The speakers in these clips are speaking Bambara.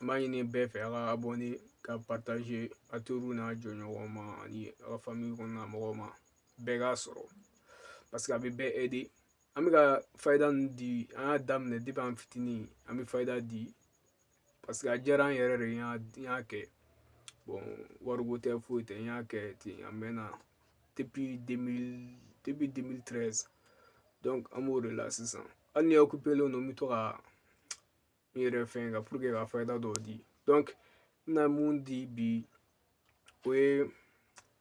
An b'a ɲini bɛɛ fɛ a ka abɔne ka paritaze a teriw n'a jɔɲɔgɔnw ma ani aw ka fami kɔnɔna mɔgɔw ma bɛɛ k'a sɔrɔ paseke a bɛ bɛɛ ɛde an bɛ ka fayida ninnu di an y'a daminɛ depi an fitinin an bɛ fayida di paseke a diyara an yɛrɛ de ye an y'a kɛ wariko tɛ foyi tɛ n y'a kɛ ten a mɛnna depi depi demili tɛrɛzi an b'o de la sisan hali ni n okipelen don n bɛ to ka n yɛrɛ fɛn ka puruke ka fayida dɔw di dɔnki n bɛna mun di bi o ye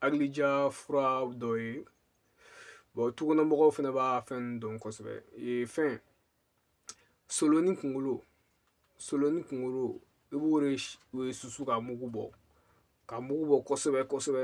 hakilija fura dɔ ye bɔn tukɔnɔmɔgɔw fɛnɛ b'a fɛn dɔn kosɛbɛ ee fɛn soloni kunkolo soloni kunkolo i b'o de susu ka mugu bɔ ka mugu bɔ kosɛbɛ kosɛbɛ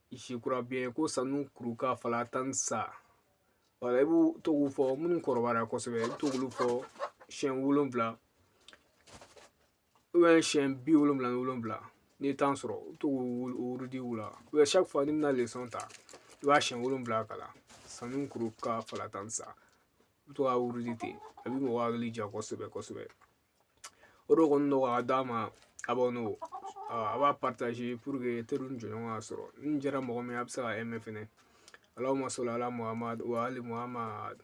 je crois bien ko sanukuruka fala tansa wala i b'u to k'u fɔ minnu kɔrɔbayara kosɛbɛ i bɛ to k'olu fɔ siɲɛ wolonwula siɲɛ bi wolonwula ni wolonwula n'i ye tan sɔrɔ i bɛ to k'u wurudi u la chaque fois n'i bɛna lesɔn ta i b'a siɲɛ wolonwula kalan sanukuruka fala tansa i bɛ to k'a wurudi ten a bɛ mɔgɔ hakili ja kosɛbɛ kosɛbɛ o de kɔni nɔgɔya d'a ma abɔne a b'a paritaze puruke teriw ni jɔɲɔgɔnw k'a sɔrɔ n'a diyara mɔgɔ min ye a bɛ se ka ɛme fɛnɛ alahuma sɔli ala Muhamadu wa ali Muhamadu